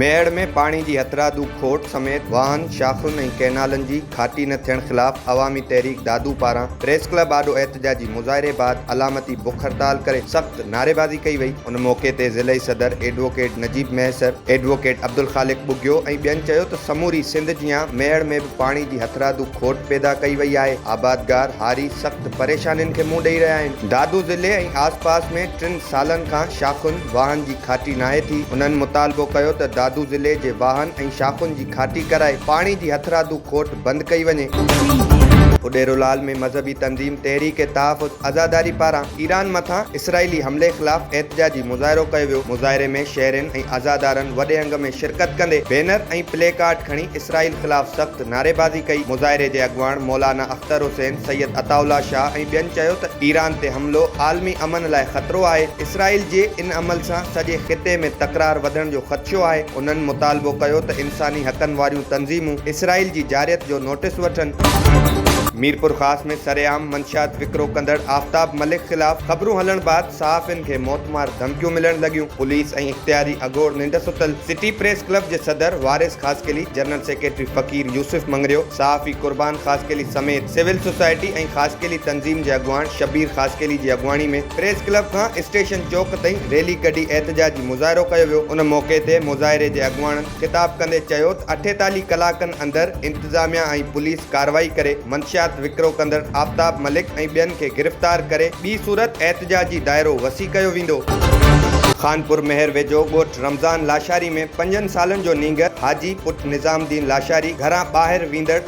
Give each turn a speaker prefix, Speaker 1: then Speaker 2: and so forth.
Speaker 1: ميهڙ ۾ پاڻي جي هٿرادو کوٽ سميت واهن، شاخن ۽ ڪئنالن جي کاٽي نه ٿيڻ خلاف عوامي تحريڪ دادو پاران پريس ڪلب آڏو احتجاجي مظاهري بعد علامتي بک هڙتال ڪري سخت نعريبازي ڪئي وئي. ان موقعي تي ضلعي صدر ايڊووڪيٽ نجيب مهيسر، ايڊووڪيٽ عبدالخالق ٻگهيو ۽ ٻين چيو ته سموري سنڌ جيان ميهڙ ۾ به پاڻي جي هٿرادو کوٽ پيدا ڪئي وئي آهي، آبادگار هاري سخت پريشانين کي منهن ڏئي رهيا آهن، دادو ضلعي ۽ آس پاس ۾ ٽن سالن کان شاخن واهن جي کاٽي ناهي ٿي، انهن مطالبو ڪيو ته دادو ضلعي جي واهن ۽ شاخن جي کاٽي ڪرائي پاڻي جي هٿرادو کوٽ بند ڪئي وڃي. اڏيرولال ۾ مذهبي تنظيم تحريڪ تحفظ عزاداري پاران ايران مٿان اسرائيلي حملي خلاف احتجاجي مظاهرو ڪيو ويو، مظاهري ۾ شهرين ۽ عزادارن وڏي انگ ۾ شرڪت ڪندي بينر ۽ پلي ڪارڊ کڻي اسرائيل خلاف سخت نعريبازي ڪئي، مظاهري جي اڳواڻ مولانا اختر حسين، سيد عطاء الله شاهه ۽ ٻين چيو ته ايران تي حملو عالمي امن لاء خطرو آهي، اسرائيل جي ان عمل سان سڄي خطي ۾ تڪرار وڌڻ جو خدشو آهي، انهن مطالبو ڪيو ته ان. انساني حقن واريون تنظيمون اسرائيل جي جارحيت جو نوٽيس وٺن. ميرپورخاص ۾ سرعام منشيات وڪرو ڪندڙ آفتاب ملڪ خلاف خبرون هلڻ بعد صحافين کي موتمار ڌمڪيون ملڻ لڳيون، پوليس ۽ اختياري اگهور ننڊ ستل، سٽي پريس ڪلب جي صدر وارث خاصخيلي، جنرل سيڪريٽري فقير يوسف مڱريو، صحافي قربان خاصخيلي سميت سول سوسائٽي ۽ خاصخيلي تنظيم جي اڳواڻ شبير خاصخيلي جي اڳواڻي ۾ پريس ڪلب کان اسٽيشن چوڪ تائين ريلي ڪڍي احتجاجي مظاهرو ڪيو ويو ان موقعي تي مظاهري جي اڳواڻن خطاب ڪندي چيو ته اٺيتاليهه ڪلاڪن اندر انتظاميا ۽ پوليس ڪارروائي ڪري منشيات وڪرو ڪندڙ آفتاب ملڪ ۽ ٻين کي گرفتار ڪري ٻي صورت احتجاجي دائرو وسيع ڪيو ويندو. خانپور مهر ويجهو ڳوٺ رمضان لاشاري ۾ پنجن سالن جو نينگر حاجي پٽ نظام الدين لاشاري گهران ٻاهر ويندڙ